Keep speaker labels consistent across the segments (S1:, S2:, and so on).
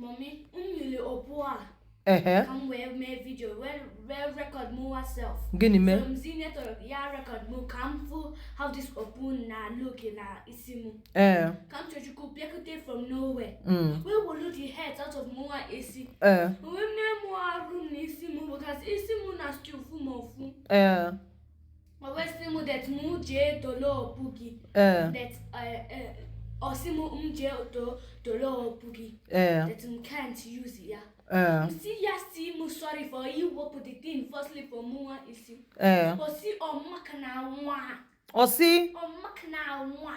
S1: Mọmi,
S2: m nyere okpu a ehe ka m wee mee vidio wee wee rekọd mụwa self gịnị mee so m
S1: zi Neto ya
S2: rekọd mụ ka m fụ how this okpu na look na isi mụ ee Kamsiyọchukwu bịakute from nowhere mm, wee wolu the hat out of mụwa isi ee wee mee mụ arụ na isi mụ because isi mụ na still fụ m ụfụ ee Ma wee sị mụ that mụ jee dolo okpu gị. Ee. That ọ sị mụ m jee dolo okpu gị. Ee. That m can't use ya. Ee. M sị ya sị mụ sorry for iwepụ the thing firstly for mụwa isi. Ee. Ọ sị ọ maka
S1: na nwa. Ọ si. Ọ maka na nwa.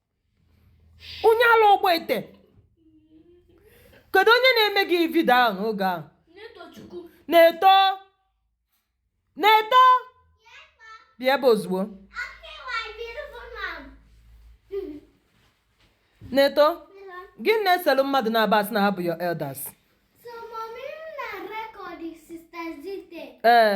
S1: onye ala ọgba ete kedu onye na-eme gị vidio ahụ n'oge ahụ Neto Neto bịa ebe a ozugbo Neto gị na-eselu mmadụ naabọ a sị na ha bụ your elders
S2: ee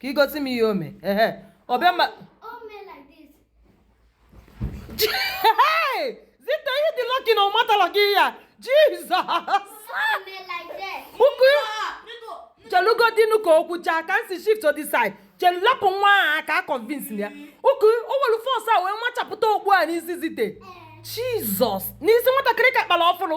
S1: ka i gosi m ihe o mee ehe ọ bịa ma Zite ị dị lọki na ọ matala gị ya jizọs
S2: ụkụ
S1: chelụgodinu ka o kwuchaa Kamsi shift to the side chelu lapụ nwa ahụ aka convince ya ụkụ o welu fọs a wee machapụta okpu a n'isi Zite jizọs n'isi nwatakịrị ka kpara ọfụrụ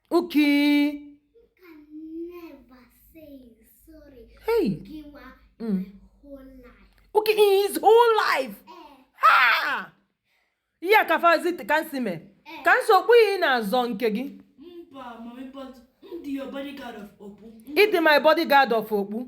S2: Okay.
S1: Hey. Mm.
S2: Okay, in his whole
S1: life. Eh. Ha! Ihe a kafazi Kamsi mee. Eh. Kamsi okpu ị na-azọ nke gị. Mba, mami,
S3: but m dị your bodyguard of okpu. Ị dị my bodyguard
S1: of okpu.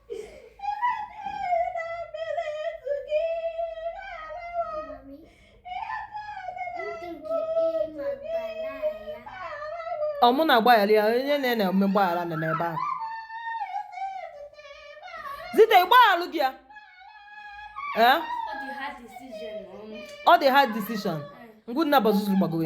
S1: ọ mụ na-agbaghara ya onye na-eme gbaghara na n'ebe ahụ Zite gbagharụ gị ya ee ọ dị hard
S2: decision
S1: ngwa unu
S2: naabọ
S1: zuzuru gbagoro